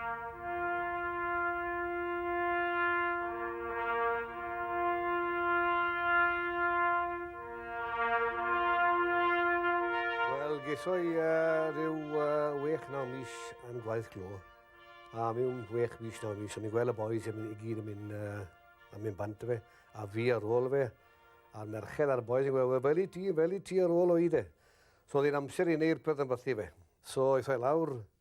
Geisoi uh, rhyw uh, wech naw mis yn gwaith glo. A mewn wech mis naw mis, o'n i'n gweld y boys yn mynd i gyd yn mynd, uh, yn mynd bant fe, a fi ar ôl fe, a'r merched a'r boys yn gweld, fel i ti, fel i ti ar ôl o'i de. So oedd hi'n amser i wneud rhywbeth yn bythu fe. So eithaf lawr,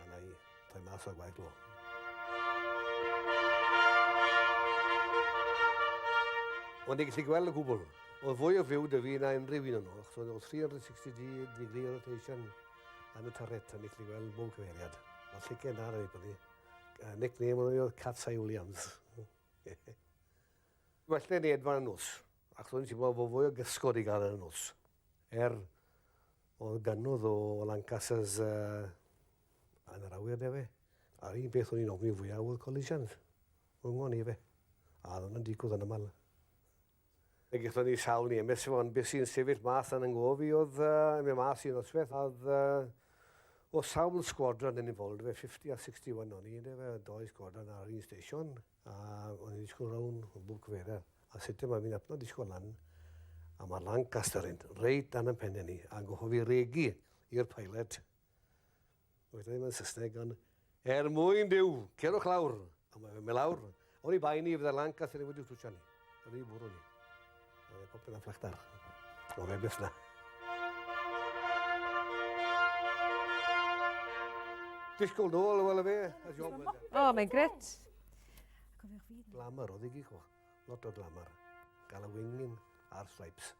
A na i, toi mas o'r gwaith lo. Ond i gallu gweld y gwbl, oedd fwy o fyw dy fi na unrhyw un o'n o'ch, oedd 360 degree rotation yn y tarret, a ni gallu gweld bob cyfeiriad. Mae lligen da na fi, byddai. Uh, nickname oedd Catsai Williams. Well na ni edfan y nos, ac ro'n i'n teimlo fo fwy o gysgod i gael yn y nos. Er, Oedd gannodd o Lancasters uh, yn yr awyr de fe. A'r un beth o'n i'n ofni fwyaf oedd collisions. Rhwng ni fe. A oedd hwnna'n digwydd yn aml. Fe gyda ni sawl ni emes efo, ond beth sy'n sefyll mas yn ynghof i oedd uh, mi mas i'n osbeth. Oedd uh, o sawl sgwadron yn involved fe, 50 a 61 o'n i, de fe, doi sgwadron ar un station. A o'n i'n disgwyl rown o bwc fera. A sut yma fi'n apno disgwyl lan. A mae Lancaster yn reit dan yn penne ni. A gohof i regu i'r pilot. Oedd ddim yn Saesneg ond er mwyn Duw, cerwch lawr. A mae fe mynd lawr. O'n i bai ni fydde Lancaster yn wedi twtio ni. Yn ei fwrw ni. Oedd e popeth yn fflachdar. Oedd e'n gwella. Disgwyl nôl, wel y fe. O, oh, mae'n gret. Glamour, oedd i gig o. Lot o glamour. Gael y wingin a'r stripes.